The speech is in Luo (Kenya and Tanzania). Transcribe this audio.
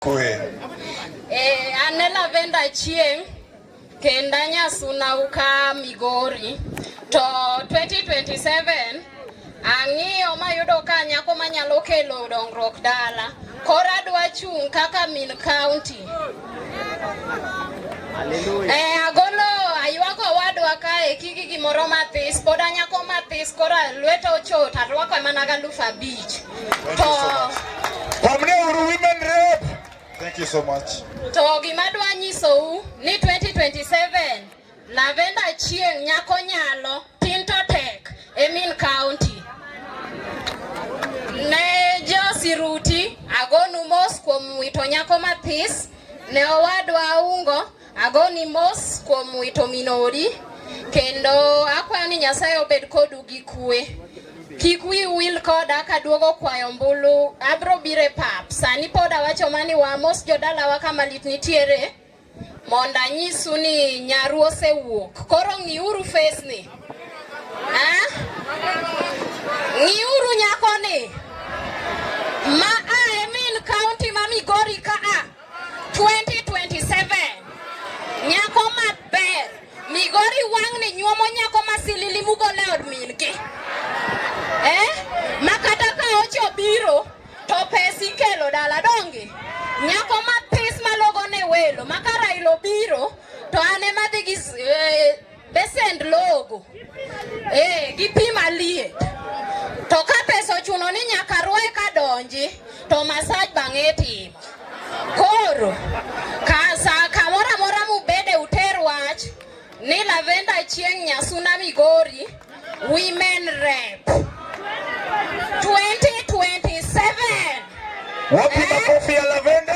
Kwe. Eh, ane Lavenda Chieng kenda Nyasuna uka Migori to 2027 ang'iyo mayudo ka nyako manyalo kelo dongruok dala koro adwa chung' kaka min county eh, agolo aywako wadwa kae kiki gimoro mathis pod anyako mathis koro lweta ochot arwako mana galufu abich you so much. To gima dwa nyisou ni 2027 Lavenda Chieng' nyako nyalo Tinto Tech e Min County. Ne jo Siruti agonu mos kuom wito nyako mathis ne owadwa Aungo Agoni mos kuom wito minori kendo akwayo ni Nyasaye obed kodu gi kue. Kik wi wil koda kaduogo kwayo mbulu, abro bire pap. Sani pod awacho mani wa mos jodalawa kama lit nitiere mondo anyisu ni nyaru osewuok. Koro ng'iuru face ni. Ah? Ng'iuru nyako ni. Ma a e min county ma Migori ka a. 2027 nyako maber migori wang'ni nyuomo nyako masilili mugole od mingi eh? ma kata ka ocho biro to pes ikelo dala donge nyako mapis malogo ne welo ma ka Raila obiro to an ema dhi gi eh, Besend logo. Eh, gi pi maliet. To ka pesa ochuno ni nyaka rwe ka donji, to masaj bang'e itimo. Koro, ka sa kamoro amora mubede uter wach ni Lavenda Chieng' Nyasuna Migori, Women Rep. 2027. Wapi makofi ya Lavenda?